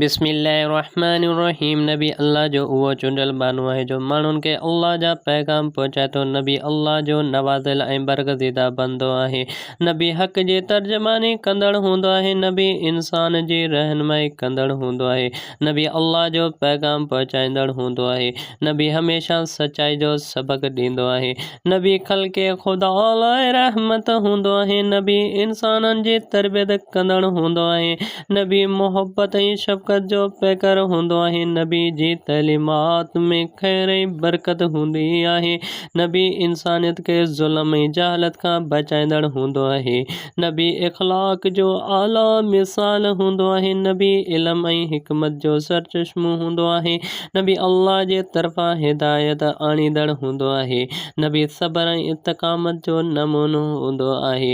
بسم الله الرحمٰن الرحيم نبي الله جو اهو چونڊيل ٻانهو آهي جو ماڻهن کي الله جا پيغام پهچائي ٿو. نبي الله جو نوازيل ۽ برگزيده بندو آهي. نبي حق جي ترجماني ڪندڙ هوندو آهي. نبي انسان جي رهنمائي ڪندڙ هوندو آهي. نبي الله جو پيغام پهچائيندڙ هوندو آهي. نبي هميشه سچائي جو سبق ڏيندو آهي. نبي خلق خدا لاء رحمت هوندو آهي. نبي انسانن جي تربيت ڪندڙ هوندو آهي. نبي محبت ۽ شفقت جو پيڪر هوندو آهي، نبي جي تعليمات ۾ خير ۽ برڪت هوندي آهي، نبي انسانيت کي ظلم ۽ جهالت کان بچائيندڙ هوندو آهي، نبي اخلاق جو اعليٰ مثال هوندو آهي، نبي علم ۽ حڪمت جو سرچشمو هوندو آهي، نبي الله جي طرفان هدايت آڻيندڙ هوندو آهي، نبي صبر ۽ استقامت جو نمونو هوندو آهي،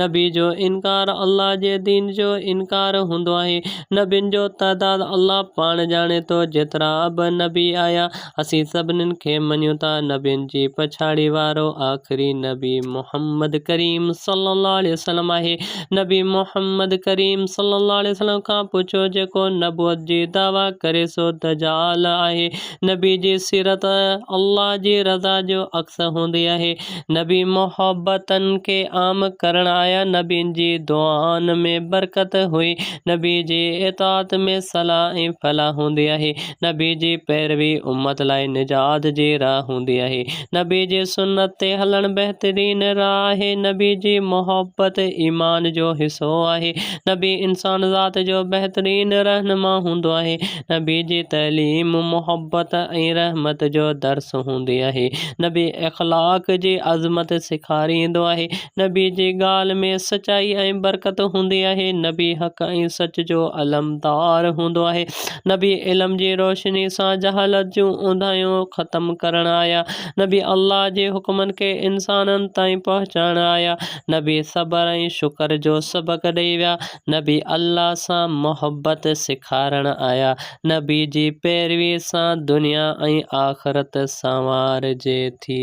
نبي جو انڪار الله جي دين جو انڪار هوندو آهي. نبين جو تعداد الله پاڻ ڄاڻي ٿو، جيترا به نبي آيا، اسين سڀنين کي مڃون ٿا، نبين جي پڇاڙي وارو آخري نبي محمد ڪريم صلي الله عليه وسلم آهي، نبي محمد ڪريم صلي الله عليه وسلم کان پڇو جيڪو نبوت جي دعويٰ ڪري سو دجال آهي، نبي جي سيرت الله جي رضا جو عڪس هوندي آهي. نبي محبتن کي عام ڪرڻ آيا، نبين جي دعائن ۾ برڪت هئي، نبي جي اطاعت ۾ صلاح ۽ فلاح هوندي آهي، نبي جي پيروي امت لاء نجات جي راهه هوندي آهي، نبي جي سنت تي هلڻ بهترين راهه آهي، نبي جي محبت ايمان جو حصو آهي، نبي انسان ذات جو بهترين رهنما هوندو آهي، نبي جي تعليم محبت ۽ رحمت جو درس هوندي آهي. نبي اخلاق جي عظمت سيکاريندو آهي. نبي جي ڳالهه ۾ سچائي ۽ برڪت هوندي آهي. نبي حق ۽ سچ جو علمدار هوندو آهي. نبي علم جي روشني سان جهالت جون اونداهيون ختم ڪرڻ آيا. نبي الله جي حڪمن کي انسانن تائين پهچائڻ آيا. نبي صبر ۽ شڪر جو سبق ڏئي ويا. نبي الله سان محبت سيکارڻ آيا. نبي جي پيروي سان دنيا ۽ آخرت سنوارجي ٿي.